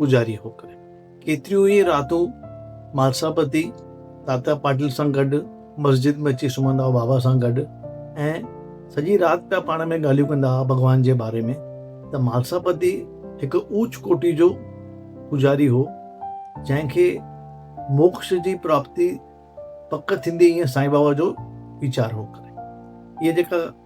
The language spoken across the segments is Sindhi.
گذاري هو ڪري. ڪيتريون ئي راتون مالساپتي تاتا پاٽل سان گڏ مسجد ۾ اچي سمهندا هئا بابا سان گڏ ۽ سڄي رات پيا پاڻ ۾ ڳالهيون ڪندا هئا ڀڳوان جي باري ۾ ته مالساپتي هڪ اوچ ڪوٽي جو پوجاري هو جنهن کي موڪش جي پراپتي پڪ ٿيندي ائين سائين بابا جو ويچار هو ڪري. هيء جيڪا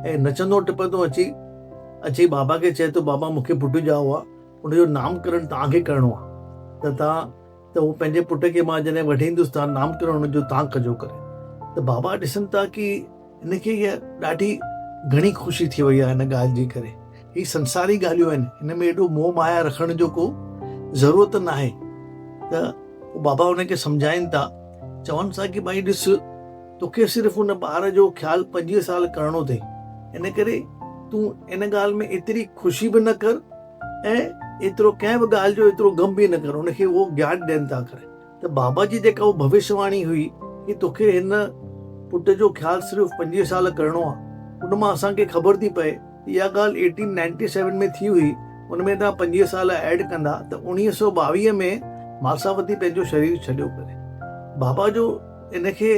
۽ نچندو ٽپندو اچي اچي بابا کي چئي ٿو بابا مون کي پٽ ڄائو آ ان جو نام ڪرڻ توهان کي ڪرڻو آ ته توهان ته هو پنهنجي پٽ کي مان جڏهن وٺي ايندس توهان نام ڪرڻ ان جو توهان ڪجو ڪري ته بابا ڏسن ٿا ڪي هن کي هيء ڏاڍي گهڻي خوشي ٿي وئي آ هن ڳالهه جي ڪري هي سنساري ڳالهيون آهن هن ۾ ايڏو موه مايا رکڻ جو ڪو ضرورت ناهي ته بابا هن کي سمجهائين ٿا چون ٿا ڪي ڀائي ڏس توکي صرف ان ٻار جو خيال پنجويهه سال ڪرڻو اٿئي ان ڪري تون ان ڳالهه ۾ ايتري خوشي به نه ڪر ۽ ايترو ڪنهن به ڳالهه جو ايترو غم به نه ڪر ان کي اهو گيان ڏين ٿا ڪري ته بابا جي جيڪا اهو ڀوشيواڻي هئي ڪي توکي هن پٽ جو خيال صرف پنجويهه سال ڪرڻو آهي ان مان اسان کي خبر ٿي پئي ته اها ڳالهه ايٽين نائنٽي سيون ۾ ٿي هئي ان ۾ توهان پنجويهه سال ايڊ ڪندا ته اوڻيهه سؤ ٻاويهه ۾ ماساوتي پنهنجو شرير ڇڏيو ڪري بابا جو ان کي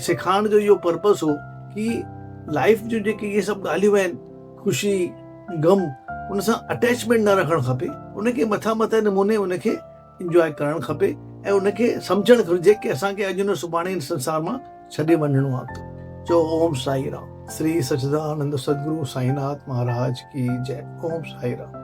سيکارڻ جو اهو پرپس هو ڪي لائيف جون جيڪي اهي سڀ ڳالهيون آهن خوشي غم ان سان اٽيچمينٽ نه رکڻ کپي ان کي مٿان مٿان نموني ان کي انجواء ڪرڻ کپي ۽ ان کي سمجهڻ گهرجي ڪي اسان کي اڄ نه سڀاڻي هن سنسار مان ڇڏي وڃڻو آهي ته چئو اوم سائي رام شري سچدانند سدگرو سائين ناٿ مهاراج ڪي جي اوم سائي رام